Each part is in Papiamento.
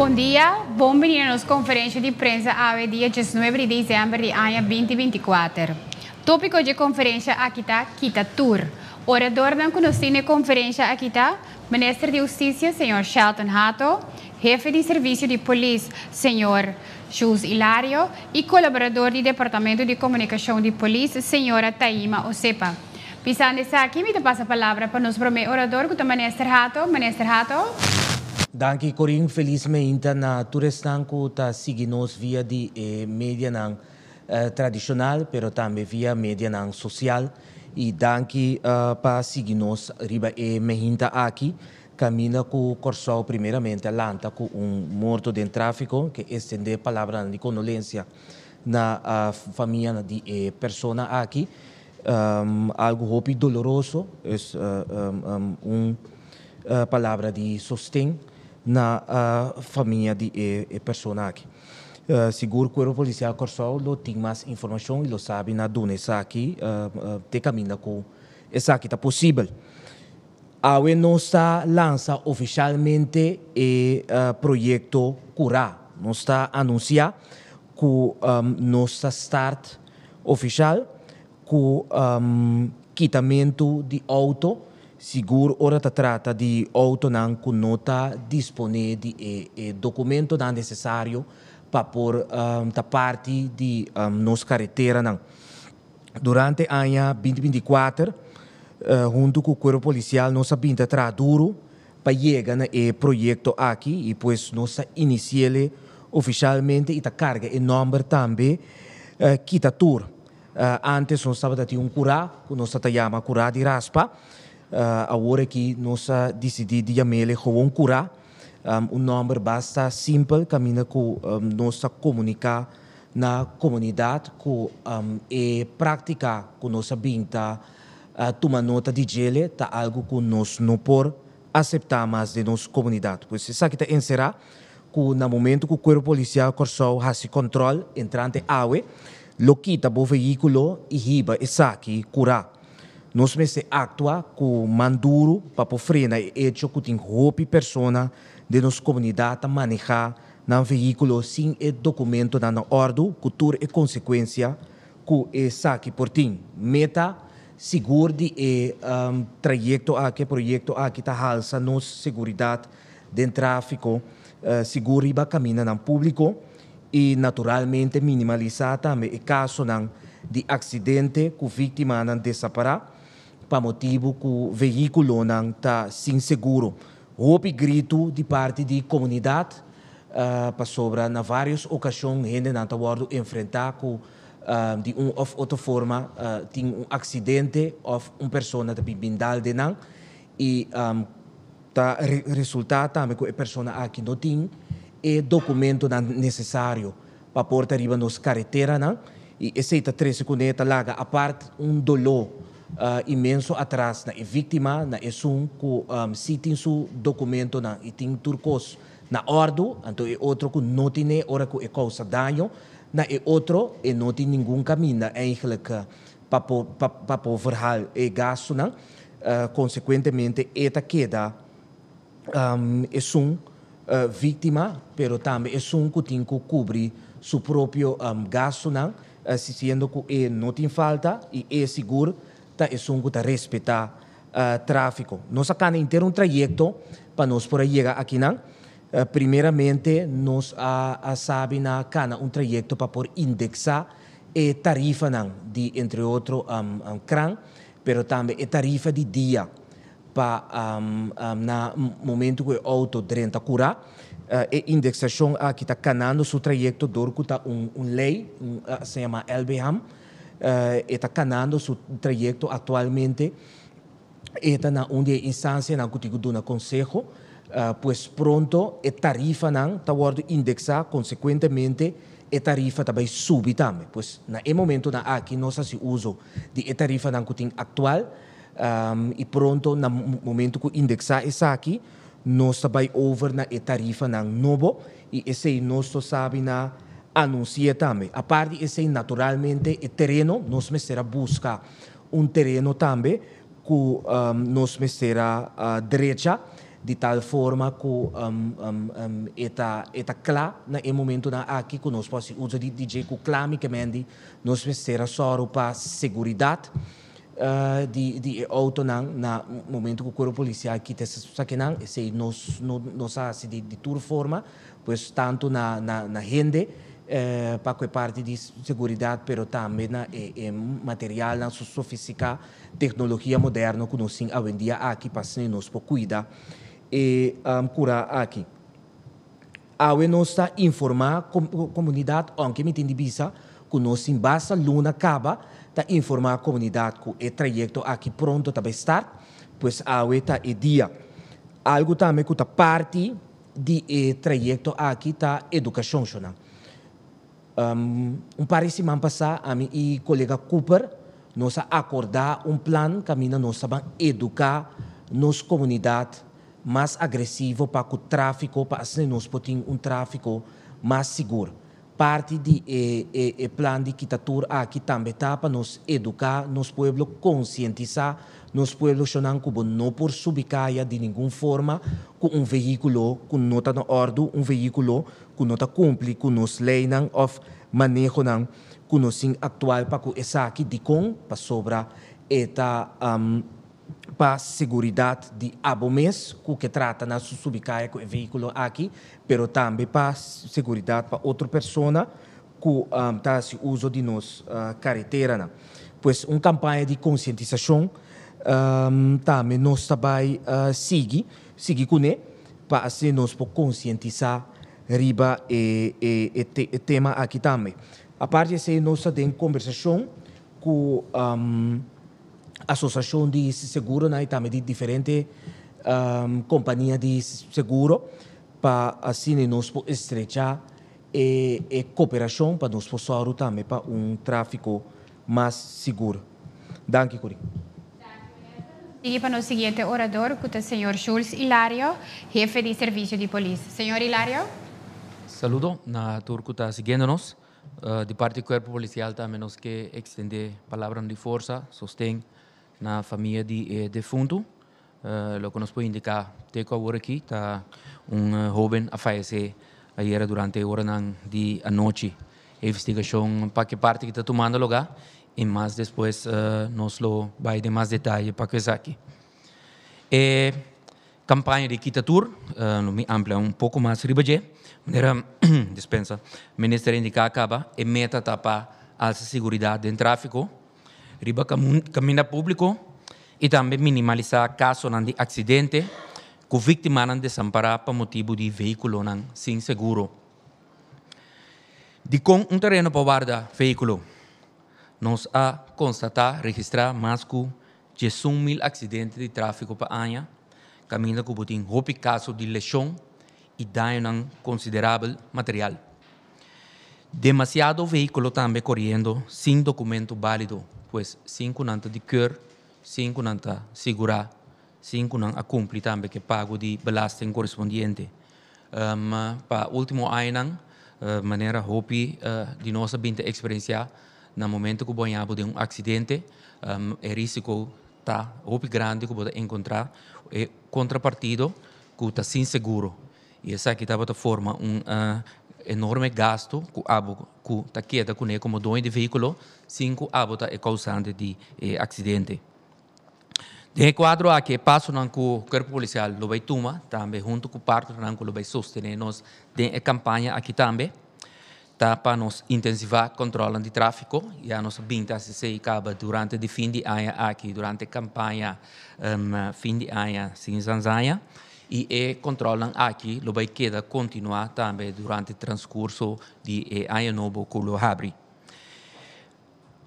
Bon dia, bon bini na nos konferensha di prensa awe dia diesnuebe di desèmber di aña binti binti kuater. Tópiko dje konferensha aki ta Kita tur. Oradornan ku nos tin na e konferensha aki ta. Minister di Husticia, Señor Shelton Hato, Hefe di Servicio di Polis, Señor Jules Hilario, y Colaborador di Departamento di Comunicacion di Polis, Señora Taima Osepa. Pisando esaki, mi ta pasa palabra pa nos prome orador cu ta Minister Hato. Minister Hato. Danki Corin, felis meinta na tur esnan cu ta sigui nos via di e medianan. tradishonal pero tambe via medianan sosial y danki pa sigui nos riba e mehinta aki Caminda cu Corsou primeramente a lanta cu un morto den trafico ke estende palabranan di condolencia na famianan di e persona aki algo hopi doloroso es un palabra di sosten na famia di e persona aki. Sigur Cuerpo Policial Corsou lo tin mas informacion y lo sabi na duna esaki te caminda cu esaki ta posibel. Awe nos ta lansa oficialmente e proyecto Cura. Nos ta anuncia cu nos ta start oficial Ku kitamentu di outo, sigur ora ta trata di outonan ku no ta disponé di e dokumentonan nesesario pa por ta parti di nos kareteranan. Durante aña binti binti kuater, huntu ku Kuerpo Polisial nos a bin ta traha duru pa yega na e proyekto aki i pues nos ta inisiéle ofishalmente i ta karga e nòmber tambe kita tur. Antes nos tabata tin un kurá ku nos ta yama kurá di raspa. Awor aki nos a disidí di yam'e gewoon kurá. Un nòmber basta simpel kaminda ku nos ta komuniká na komunidat ku e práktika ku nos a bin ta tuma nota di djel'e ta algu ku nos no por aseptá mas den nos komunidat. Pues esaki ta enserá ku na momentu ku Cuerpo Policial Kòrsou hasi kòntròl entrante awe, lo kita bo vehíkulo i hiba esaki kurá. Nos mester aktua ku man duru pa por frena e echo ku tin hopi persona den nos komunidat ta manehá nan vehíkulo sin e dokumentonan na òrdu ku tur e konsekuensia ku esaki por tin, meta Sigur di e trayecto aki, e proyecto aki ta halsa nos seguridad den trafico, sigur riba caminanan publico y naturalmente minimalisa tambe e casonan di accidente cu victimanan desapara pa motibu cu vehiculonan ta sin seguro. Hopi gritu di parti di comunidad pasobra na varios ocasion hendenan ta wordo enfrenta cu di un òf otro forma tin un aksidente òf un persona ta bin bindal den nan i ta resultá tambe ku e persona aki no tin e dokumentonan nesesario pa por ta riba nos kareteranan i esei ta trese kuné ta laga apart un doló inmenso atras na e víktima, na esun ku sí tin su dokumentonan i tin tur kos Na ordu, anto e otro ku no tin e ora ku e kousa daño na e otro e no tin ningun kaminda eigenlijk pa por pa por verhal e gastunan, konsekuentemente e ta keda esun víktima pero tambe esun ku tin ku kubri su propio gastunan siendo ku e no tin falta i e sigur ta esun ku ta respetá. Tráfiko. Nos a kanda henter un trayekto pa nos por a yega akinan. Primeramente nos a sabi na kanda un trayekto pa por indeksá e tarifanan di entre otro kran, pero tambe e tarifa di dia pa na momentu ku e outo drenta kurá. E indeksashon aki ta kanando su trayekto dor ku ta un lei, asá yamá lbham. E ta kanando su trayekto aktualmente. E ta na un di e instansianan ku tin ku duna konseho. Pues pronto e tarifanan ta wòrdu indeksá, konsekuentemente e tarifa ta bai subi tambe. Pues na e momentunan aki nos hasi uso di e tarifanan ku tin aktual i pronto na momentu ku indeksá esaki, Nos ta bai over na e tarifanan nobo i esei nos lo sabi na anunsi'é tambe. Apart di esei, naturalmente e tereno, nos mester a buska un tereno tambe ku nos mester a drecha di tal forma ku e ta kla na e momentunan aki ku nos por hasi uso di DJ ku kla mi ke mendi nos mester a sòru pa seguridat. di e outonan na momento cu cuerpo policial kita esaki e nan esey no sa haci di tur forma pues tanto na hende pa cu e parti di seguridad pero tambe na e materialnan su sofistica tecnologia moderno cu nos tin awendia aki pa asina nos por cuida e cura aki. Awe nos ta informá komunidat ounke mi tin di bisa ku nos tin basta luna kaba ta informá komunidat ku e trayekto aki pronto ta bai start, pues awe ta e dia. Algu tambe ku ta parti di e trayekto aki ta edukashon, shona. Un par di siman pasá ami i kolega Cooper nos a akordá un plan kaminda nos ta ban eduká nos komunidat mas agresivo pa ku tráfiko pa asina nos por tin un tráfiko mas sigur. Parti di e plan di kita tur aki tambe ta pa nos eduká nos pueblo, konsientisá nos puebloshonnan ku bo no por subi kaya di ningun forma ku un vehíkulo ku no ta na òrdu, un vehíkulo ku no ta kumpli ku nos leinan òf manehonan ku nos tin aktual pa ku esaki dikon? Pasobra e ta pa seguridat di abo mes ku ke trata na su subi kaya ku e vehíkulo aki, pero tambe pa seguridat pa otro persona. ku ta hasi uso di nos kareteranan. Pues un kampaña di konsientisashon tambe nos ta bai sigui sigui kuné pa así nos por konsientisá riba e tema aki tambe. Apart di esei nos ta den kombersashon ku asosiashon di seguronan i tambe di diferente kompania di seguro pa asina nos por estrechá E cooperacion pa nos por zorgu tambe pa un trafico mas sigur. Danki, Corine. Danki minister, nos sigui pa nos siguiente orador cu ta señor Jules Hilario, hefe di servicio di polis. Señor Hilario. Saludo na tur cu ta siguendo nos. Di parti di cuerpo policial tambe nos ke extende palabranan di forsa, sosten na famia di e defuntu. Loke nos por indiká te ku awor aki ta un hóben a fayesé ayera durante e oranan di anochi. E investigashon pa ki parti ki ta tumando lugá i mas despues nos lo bai den mas detaye pa ku esaki. E kampaña di kita tur lo mi amplia un poko mas riba dje manera dispensa, Minister a indiká kaba e meta ta pa alsa siguridat den tráfiko. riba kaminda públiko i tambe minimalisá kasonan di aksidente ku víktimanan desampará pa motibu di veíkulonan sin seguro. Dikon un tereno pa warda veíkulo? Nos a konstatá, registrá, mas ku diesun mil aksidente di tráfiko pa aña, kaminda ku bo tin hopi kaso di leshon i dañonan konsiderabel material. Demasiado vehiculo tambe coriendo sin documento balido, pues sin cu nan ta di keur, sin cu nan ta sigura, sin cu nan a cumpli tambe cu e pago di belasting corespondiente. Pa ultimo añanan, manera hopi di nos a bin ta experiencia, na momento cu bo a yaha bo den un accidente, e risico ta hopi grandi cu bo ta encontra e contrapartido cu ta sin seguro. I esaki tabata forma un enorme gastu ku abo ku ta keda kuné komo doño di vehíkulo sin ku abo ta e kousante di e aksidente. Den e kuadro aki e pasonan ku Kuerpo Polisial lo bai tuma tambe huntu ku partnernan ku lo bai sostené nos den e kampaña aki tambe, Ta pa nos intensivá controla di tráfico, ya nos a binti haci esey caba durante di fin di aña aki, durante campaña fin di aña sin zanzanja, y e controlnan aki lo bay keda continuá tambe durante transcurso di e aña nobo cu lo habri.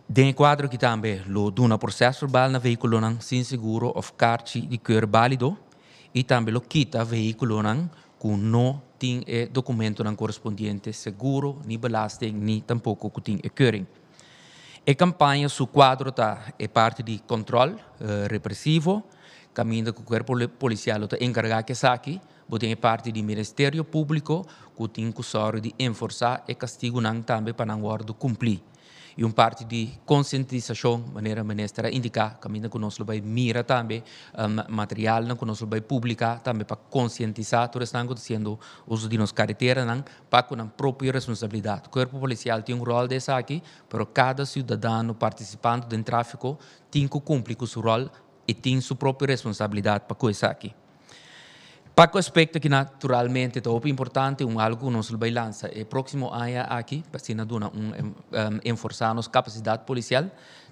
Den e kuadro aki tambe lo duna proseso verbal na vehíkulonan sin seguro òf karchi di keur bálido i tambe lo kita vehíkulonan ku no tin e dokumentunan korespondiente seguro ni belasting ni tampoko ku tin e keuring. E kampaña su kuadro ta e parti di kòntròl represivo kaminda ku kuerpo polisial lo ta enkargá ku esaki Bo tin e parti di Miresterio Públiko ku tin ku sòru di enforsá e kastigunan tambe pa nan wòrdu kumplí. I un parti di konsientisashon, manera Minister a indiká, kaminda ku nos lo bai mira tambe materialnan ku nos lo bai publiká tambe pa konsientisá tur esnan ku ta hasiendo uso di nos kareteranan pa ku nan propio responsabilidat. Kuerpo Polisial tin un ròl den esaki, pero kada siudadano partisipando den tráfiko tin ku kumpli ku su ròl i tin su propio responsabilidat pa ku esaki. Pa cu aspecto ki naturalmente ta hopi importante, un algo cu nos lo bay lansa e proximo aña aki, pa asina duna un enforsa nos capacidad policial,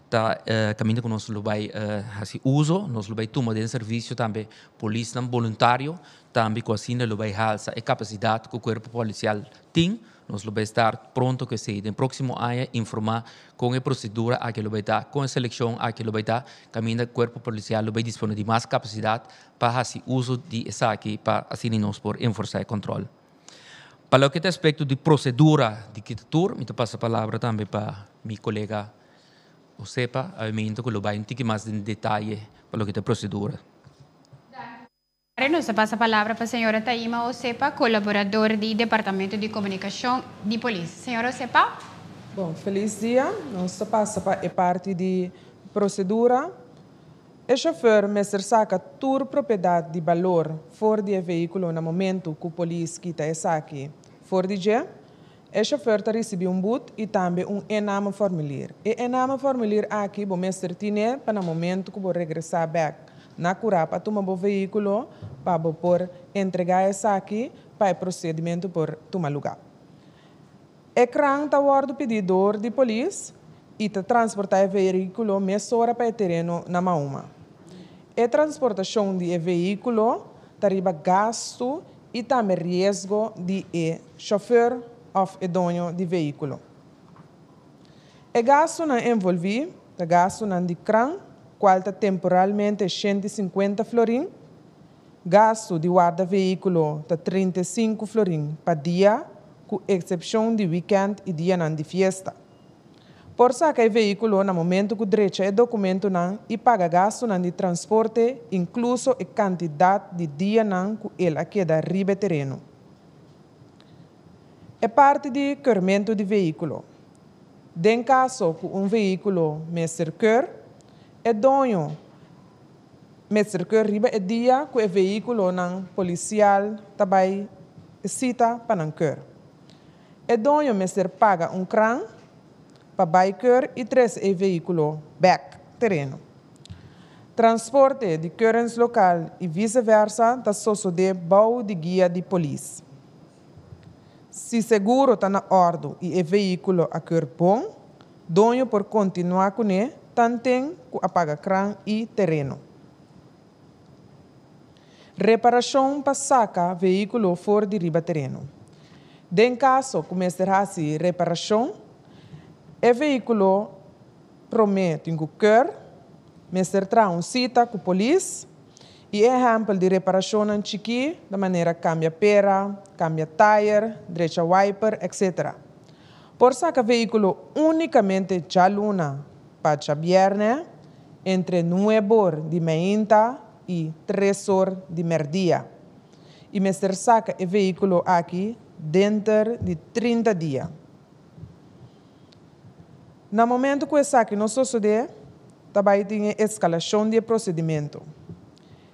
ta e caminda cu nos lo bay haci uzo, nos lo bay tuma den servicio tambe polisnan boluntario, tambe cu asina lo bay halsa e capacidad cu cuerpo policial tin, Nos lo bai estar pronto cu esey. Den proximo aña informa con e procedura aki lo bai ta, con e seleccion aki lo bai ta, caminda Cuerpo Policial lo bai dispone di mas capacidad pa haci uso di esaki pa asina nos por enforza e control. Pa loke ta aspecto di procedura di kita tur mi ta pasa palabra tambe pa mi colega Josepa Avemento cu lo bai un tiki mas den detaye pa loke ta procedura. Are nos a pasa palabra pa señora Taima Hosepa, colaborador di Departamento di Comunicacion di Polis. Señora Hosepa. Bon, feliz dia. Nos ta pasa pa e parti di procedura. E chauffeur mester saca tur propiedad di balor for di e vehiculo na momento cu polis kita esaki for di dje. E shofèr ta risibí un but i tambe un e-name-formulier. E e-name-formulier aki bo mester tine pa na momentu ku bo regresá bèk na Kurá pa tuma bo veíkulo pa bo por entregá esaki pa e prosedimentu por tuma lugá. E kran ta wòrdu pidí dor di polis i ta transportá e veíkulo mesora pa e tereno na Mauma. E transportashon di e veíkulo ta riba gastu i tambe riesgo di e shofèr òf e doño di vehíkulo. E gastunan envolví ta gastunan di kran, kual ta temporalmente shenti sinkuenta florin, gastu di warda vehíkulo ta trinta i sinku florin pa dia, ku eksepshon di wikènt i dianan di fiesta. Por saka e veíkulo na momentu ku drecha e dokumentunan i paga gastunan di transporte, inkluso e kantidat di dianan ku el a keda riba e tereno. E parti di keurmentu di veíkulo. Den kaso ku un veíkulo mester keur, e doño mester keur riba e dia ku e veíkulonan polisial ta bai e sita pa nan keur. E doño mester paga un kran pa bai keur i tres e vehiculo bek tereno. Transporte di keurens local i vice versa ta sosode bou di guia di polis. Si seguro ta na ordu i e vehiculo a keur bon, doño por continua cune tanten cu a paga kran i tereno. Reparashon pa saka vehíkulo for di riba tereno. Den kaso ku mester hasi reparashon, e vehíkulo promé tin ku kòr, mester traha un sita ku polis, i e ehèmpel di reparashonnan chikí ta manera kambia pera, kambia tayer, drecha wiper, etcétera. Por saca vehiculo unicamente djaluna pa djabierne entre nuebe or di meinta y tres or di merdia y mester saca e vehiculo aki denter di trinta dia. Na momento cu esaki no sosode ta bay tin e escalacion di e procedimento.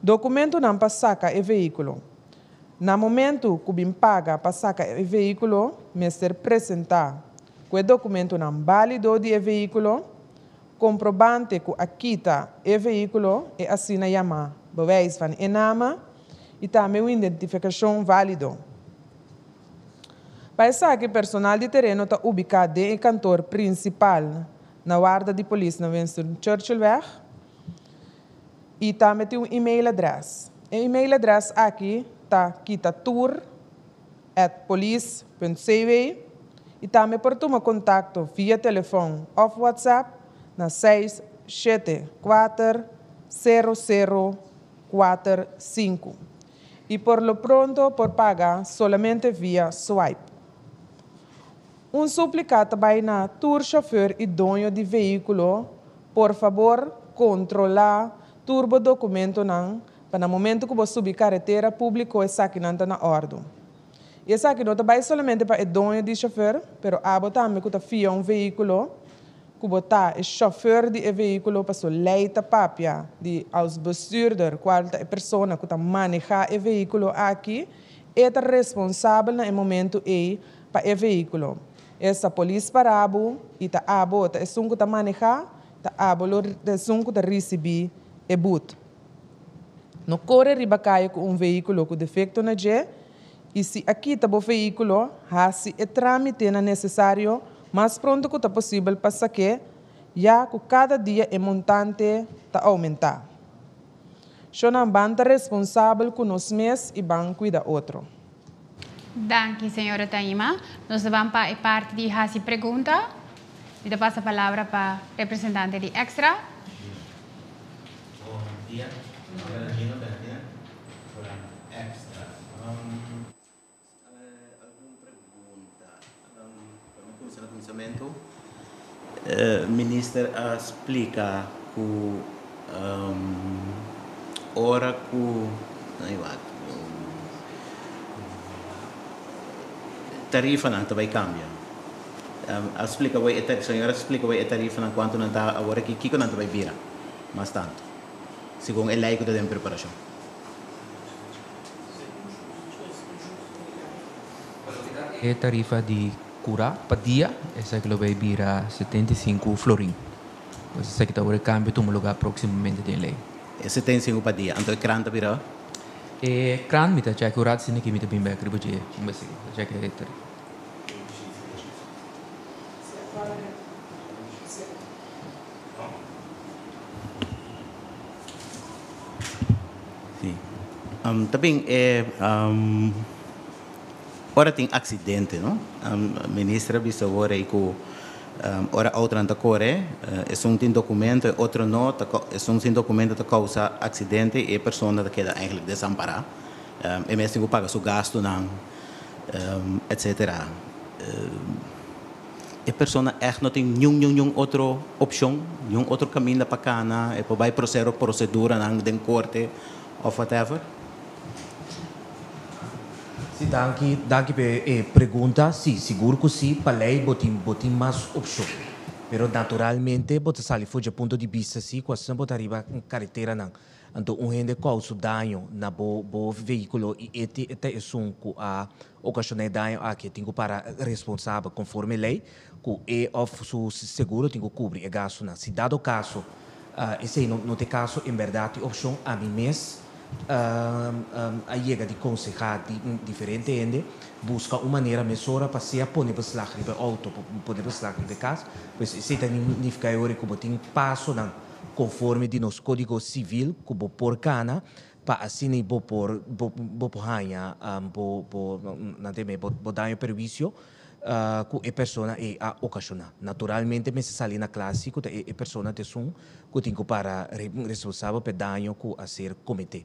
Documentonan pa saca e vehiculo. Na momento cu bin paga pa saca e vehiculo mester presenta cu e documentonan balido di e vehiculo, comprobante cu a kita e vehiculo, e asina yama bewijs van inname, y tambe un identificacion valido. Pa esaki personal di tereno ta ubica den e kantoor principal na warda di polis na Winston Churchillweg. y tambe tin un email address. E email address aki ta kita tur at police punt cw y tambe por tuma contacto via telefon of WhatsApp na seis shete kuater sero sero kuater sinku y por lo pronto por paga solamente via swipe. Un suplica ta bay na tur chauffeur y doño di vehiculo Por fabor, controla tur bo documentonan pa na momento cu bo subi caretera publico esakinan ta na ordu. Y esaki no ta bay solamente pa e doño di chauffeur, pero abo tambe cu ta fia un vehiculo, cu bo ta e chauffeur di e vehiculo pasobra ley ta papia di als bestuurder, cual ta e persona cu ta maneha e vehiculo aki, e ta responsabel na e momento ey pa e vehiculo. Esta polis para abo y ta abo, ta esun cu ta maneha, ta abo lo ta esun cu ta ricibi e boet. No core riba caye cu un vehiculo cu defecto na dje y si a kita bo vehiculo, haci e tramite nan necesario mas pronto cu ta posibel pa saque ya cu cada dia e montante ta aumenta. Sho nan ban ta responsabel cu nos mes y ban cuida otro. Danki señora Taima. Nos ta ban pa e parti di hasi pregunta. Mi ta pasa palabra pa representante di Extra. Bon dia, mi nomber ta Gino Bertian, for Extra. Algun pregunta? Minister a splika ku ora ku tarifanan ta bai kambia, a splika bo e tarifanan kuantu nan ta awor aki, kiko nan ta bai bira mas tantu segun e lei ku ta den preparashon. E tarifa di kura pa dia esaki lo bay bira setenta i sinku florin. Pues esaki ta ora e kambio tuma lugá próksimamente den lei. E setenta i sinku pa dia. Anto e krant a bira? E krant mi ta chèk ora asina ke mi ta bin bèk riba dje un bes seguido. Ta chèk e tarifa. Ta bin e ora tin accidente no minister a bisa awor ei cu ora autonan ta core esun tin documento e otro no ta esun sin documento ta causa accidente y e persona ta keda eigenlijk desampara e mes tin cu paga su gastonan etcetera. E persona ègt no tin niun niun niun otro opshon, niun otro kaminda pa kana, e por bai prosero proseduranan den korte òf whatever? Sí, danki. Danki pe e pregunta. Sí, sigur ku sí. Pa lei bo tin bo tin mas opshon. Pero naturalmente bo ta sali for dje punto di bista sí kua sna bo ta riba kareteranan. Anto un hende kousu daño na bo bo vehíkulo i e ta esun ku a Ocasioné daño aki tin cu para responsabel conforme ley cu e of su seguro tin cu cubri e gastonan. Si dado caso esey no t'e caso, en berdad t'e opcion ami mes a yega di conseha diferente hende busca un manera mesora pa sea pone beslag riba e auto, pone beslag riba e cas, pues esey ta nifica e ora cu bo tin pasonan conforme di nos codigo civil cu bo por cana. pa asina bo por bo por haña bo bo nan ta e mes bo daño perhuicio cu e persona ei a ocasiona. Naturalmente mester sali na clase cu ta e persona t'esun cu tin cu para responsabel p'e daño cu a ser comete.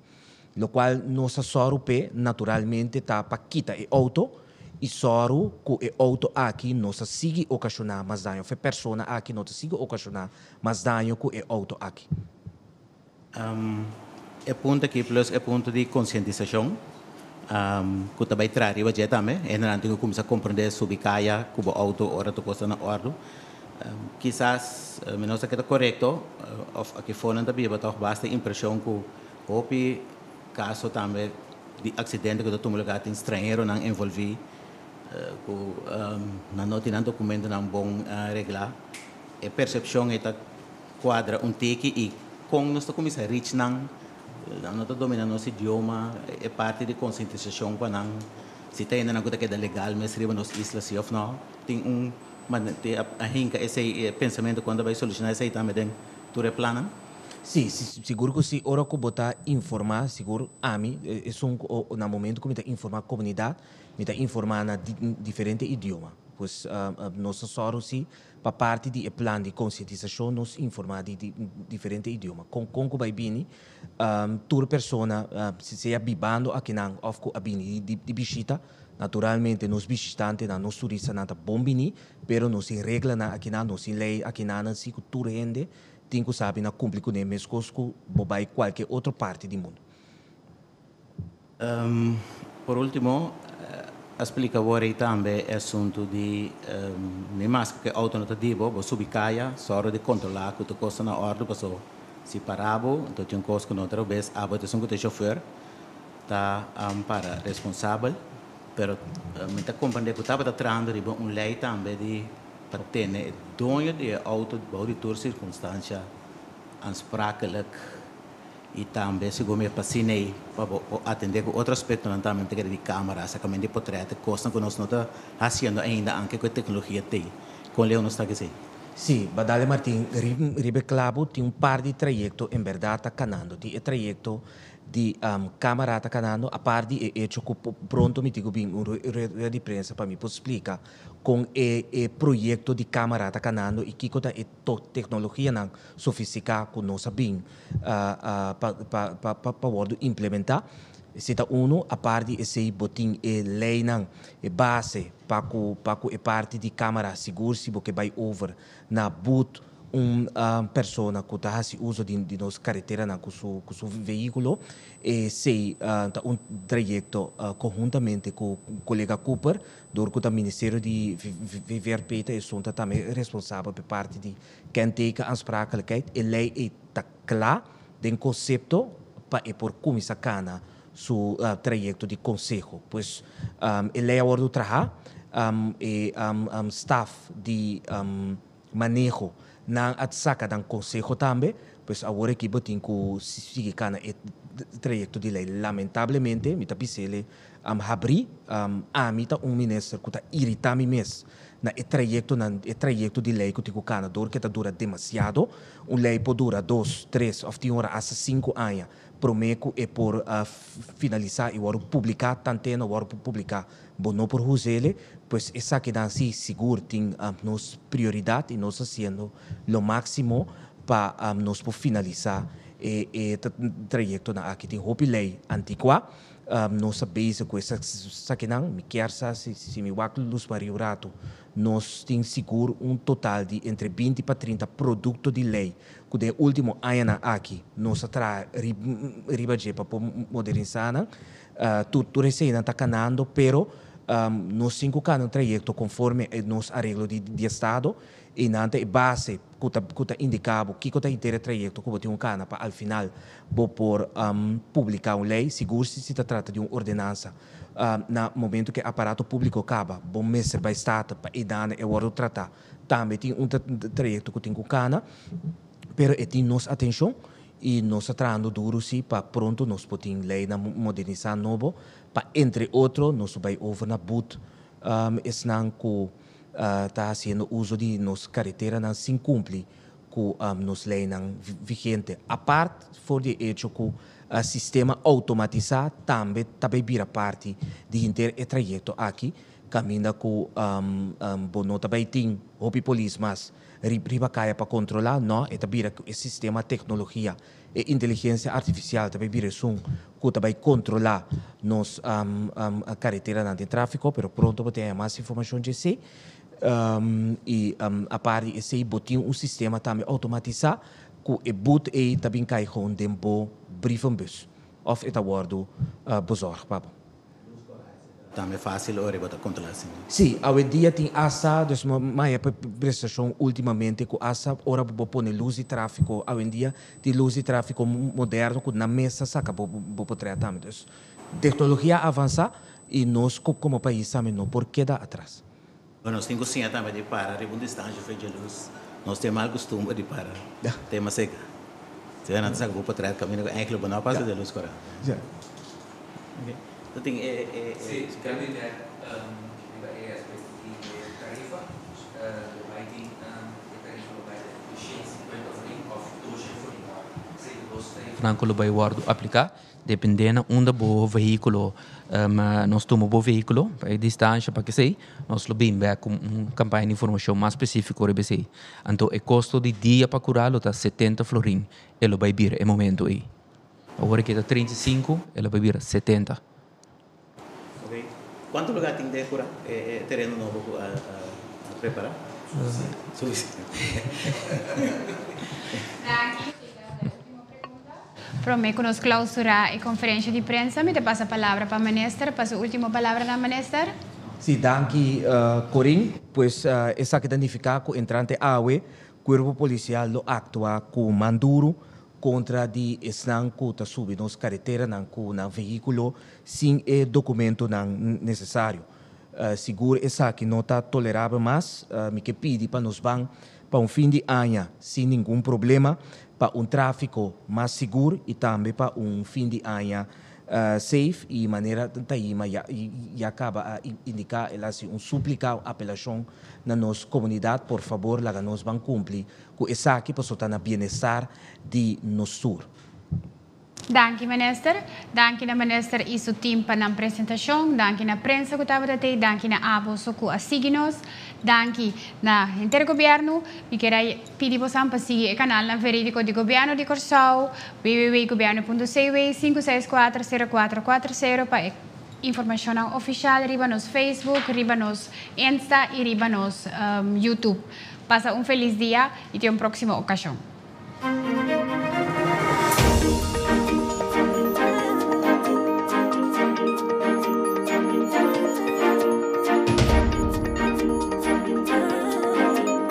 Locual nos a sòru p'e naturalmente ta pa kita e auto y sòru cu e auto aki no sa sigui ocasiona mas daño of e persona aki no ta sigui ocasiona mas daño cu e auto aki. E punt aki plus e punt di konsientisashon ku ta bai traha riba dje tambe. Hendenan tin ku kuminsá komprendé subi kaya ku bo outo ora tur kos ta na òrdu. Kisas mi no sa ke ta korekto òf aki for nan ta biba tòg basta impreshon ku hopi kaso tambe di aksidente ku ta tuma lugá tin stranheronan envolví ku nan no tin nan dokumentonan bon reglá. E persepshon ei ta. Cuadra un teki y con nos ta cuminsa reach nan, nan no ta domina nos idioma, e parti di concientisacion pa nan, si ta hende nan cu ta keda legal mes riba nos isla si of no, tin un a hinca esey pensamento con ta bay soluciona esey tambe den tur e plannan. Si, sigur cu si, ora cu bo ta informa, sigur ami, esun cu na momento cu mi ta informa comunidad, mi ta informa na diferente idioma, pues nos ta sor si Pa parti di e plan di konsientisashon nos informá di diferente idioma kon kon ku bai bini tur persona sea bibando aki nan òf ku a bini di bishita. Naturalmente nos bishitantenan, nos turistanan ta bon biní pero nos tin reglanan aki nan, nos tin lei aki nan nan si ku tur hende tin ku sa bina kumpli kuné meskos ku bo bai kualke otro parti di mundu. Por ultimo, a splica awor ey tambe e asunto di mi mas cu ke auto no ta di bo, bo subi caya, soro di controla cu tur cos ta na orde, paso si para bo, enton tin un cos cu no ta robes, abo ta esun cu ta e chauffeur ta para responsabel, pero mi ta comprende cu tabata trahando riba un ley tambe di pa tene e doño di e auto bao di tur circunstancia aansprakelijk. Y tambe si bo mira pa cine ey pa bo por atende cu otro aspectonan tambe ta kere di camera, acercamento di potreto, cosnan cu nos no ta haciendo ainda anke cu e tecnologia ta ey. Con Leo nos ta haci esey. Sí, Badale Martin, riba e clabo tin un par di trayecto en berdad ta canando. Tin e trayecto di camera ta canando, apart di e hecho cu pronto mi tin cu bini un rueda di prensa pa mi por splica con e proyecto di camera ta canando y kico ta e to teknologianan sofisticá cu nos a bin pa wordo implementá. Si ta uno, apart di esey bo tin e leynan, e base pa cu e parti di camera sigur si bo ke bay over na boet un persona cu ta haci uso di nos careteranan cu su vehiculo. Esey ta un trayecto conhuntamente cu colega Cooper. Dor ku ta Ministerio di VVRP ta esun ta tambe responsabel p'e parti di kenteken aansprakelijkheid. E lei ei ta kla den konsepto pa e por kuminsá kana su trayekto di konseho. Pues e lei a wòrdu trahá. E staf di. maneho nan a saca nan conseho tambe, pues awor aki bo tin cu sigui cana e trayecto di ley. Lamentablemente mi ta bisele habri, ami ta un minister cu ta irita mi mes na e trayectonan, e trayecto di ley cu tin cu cana door cu e ta dura demasiado. Un ley por dura dos, tres of tin ora hasta cinco aña prome cu e por finalisa y wordo publica, tan te no wordo publica Bo no por huzele, pues esaki dan si sigur tin nos prioridad y nos haciendo lo maximo pa nos por finalisa e trayectonan aki. Tin hopi ley antigua, nos ta bezig cu esakinan. Mi kier sa si mi wak luz mari un ratu. Nos tin sigur un total di entre binti pa trinta producto di ley cu den e ultimo añanan aki nos a traha riba dje pa por modernisanan. Tur tur e seinan ta canando pero nos tin cu cana un trayecto conforme e nos areglo di di estado y nan ta e base cu ta cu ta indica bo kico ta henter e trayecto cu bo tin cu cana pa al final bo por publica un ley sigur si si ta trata di un ordenansa na momento cu e aparato publico caba bo mester bay staten pa e dana e wordo trata tambe tin un trayecto cu tin cu cana pero e tin nos atencion I nos ta trahando duru si pa pronto nos por tin ley na modernisá nobo pa entre otro nos por bai over na but esnan ku ta hasiendo uso di nos kareteranan sin kumpli ku nos leynan vigente, apart for di e echo ku sistema outomatisá tambe ta bai bira parti di henter e trayekto aki kaminda ku bo no ta bai tin hopi polis mas. Rip riba kaya pa kontrolá, nò, e ta bira ku e sistema teknologia, e inteligensia artifisial ta bai bira esun ku ta bai kontrolá nos kareteranan den tráfiko, pero pronto bo ta haña mas informashon dje esei. I apart di esei bo tin un sistema tambe outomatisá ku e bút ei ta bin kai gewoon den bo brievenbus òf e ta wòrdu bezòrg pa bo. Tambe facil ori bo ta controla si mismo. Sí, awedia tin asa, dus bo maya pa e prestacion ultimamente cu asa ora bo pone luz di trafico, awendia tin luz di trafico moderno cu nan mes ta saca bo bo por trea tambe. Dus tecnologia a avansa y nos como pais tambe no por keda atras. Bueno, nos tin cu siña tambe di para riba un distancia frente e luz. Nos tin e mal costumber di para te mas cerca. Asina nan ta saca bo potret caminda cu engeltje bo no a pasa den luz coral. Bo tin e. Nan cu lo bay wordo aplica. Dependendo unda bo vehiculo ma nos tuma bo vehiculo pa e distancia pa kesey nos lo bin bek cu un campaña di informacion mas specifico riba esey. Anto e costo di dia pa cura lo ta setenta florin e lo bay bira e momento ey. Awor e ke ta treinta i sinku e lo bay bira setenta Cuanto lugar tin den cura e tereno nobo cu a prepara? Prome cu nos clausura e conferencia di prensa mi ta pasa palabra pa minister pa su ultimo palabranan minister. Si, danki Corin. Pues esaki ta nifica cu entrante awe Cuerpo Policial lo actua cu man duro contra di esnan cu ta subi nos careteranan cu nan vehiculo sin e documentonan necesario. Sigur esaki no ta tolerabel mas, mi ke pidi pa nos ban pa un fin di aña sin ningun problema, pa un trafico mas sigur y tambe pa un fin di aña Safe y manera Taima ya caba a indica, el a haci un suplica, un apelacion na nos comunidad, por favor laga nos ban cumpli cu esaki pasobra ta na bienestar di nos tur. Danki Minister. Danki na Minister y su team pa nan presentacion. Danki na prensa cu tabata tei. Danki na abo su cu a sigui nos. Danki na henter Gobierno. Mi kier a. Pidi bosan pa sigui e kanalnan verídiko di Gobièrnu di Kòrsou, www.gobièrnu.cw, sinku seis kuater sero kuater kuater sero pa e informashonnan ofishal riba nos Facebook, riba nos Insta i riba nos YouTube. Pasa un felis dia i te un próksimo okashon.